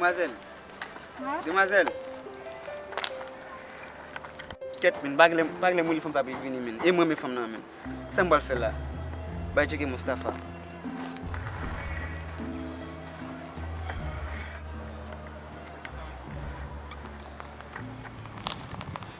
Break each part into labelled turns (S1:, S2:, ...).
S1: Demwazèl! Demwazèl! Kèt men, pa genlè mouri fanm sa ap revini men. E m renmen fanm nan men. Sa m pral fè la? Bay tcheke Moustapha.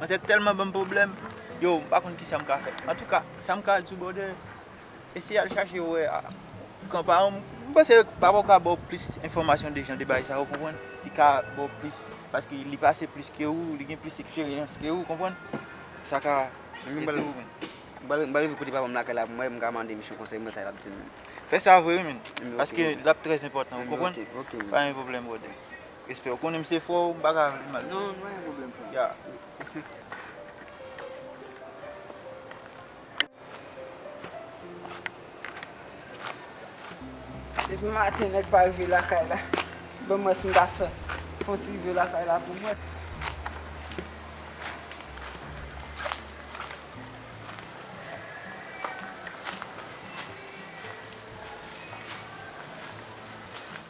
S2: Manzè tèlman banm pwoblèm, yow m pa konn kisa m ka fè. Antouka, sa m ka al sou Bòdè, eseye al chache wè kan paran m. M panse papa w ka ba w plis enfòmasyon de jan de bagay sa yo, konprann. Li ka ba w plis, paske li pase plis ke ou, li gen plis eksperyans ke ou, konprann. Sa ka ede w menm.
S1: M pral rive kote papa m lakay la pou m wè, m ka mande misye konsèy m wè sa l ap di m. Fè sa vre wi
S2: menn, paske l ap trèzenpòtan, ou konprann. Pa gen pwoblèm
S1: Bòdè.
S2: Respè ou konnen m se frè w m paka vin mal. Non pa gen pwoblèm frè
S1: m. Ya respè.
S3: Depi maten nèg pa rive lakay la. Banm wè si m ka fè fon ti rive lakay la pou mwen.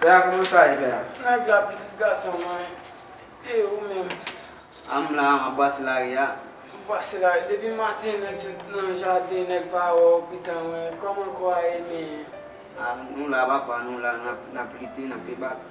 S1: Pè a kòman sa ye pè a? Nèg la pitit
S3: gason mwen. E ou menm? A m la,
S1: m ap pase lari a. Ou pase lari?
S3: Depi maten nèg sot nan jaden nèg pa wè w pi tan wè. Kòman kò a ye men? A nou la
S1: papa, nou la, n ap lite, n ap pebak.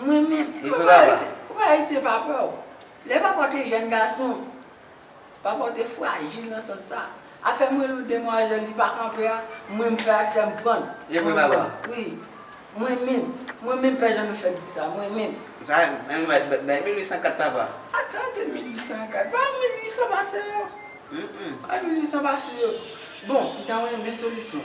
S3: Mwen menm, koupe ayiti pa pè w. Lè papa w te jèn gason, papa w te frajil nan sans sa. Afè mwen lou demwazèl li pa kanpe a, mwen m fè ak sè m pran. E pou papa w?
S1: Wi.
S3: Mwen menm, mwen menm pè jan nou fèk di sa, mwen menm. Sa a, an nou bay,
S1: bay 1804 papa. Atan
S3: de 1804, bay 1800 pase yo. Bay 1800 pase yo. Bon, m ta renmen solisyon.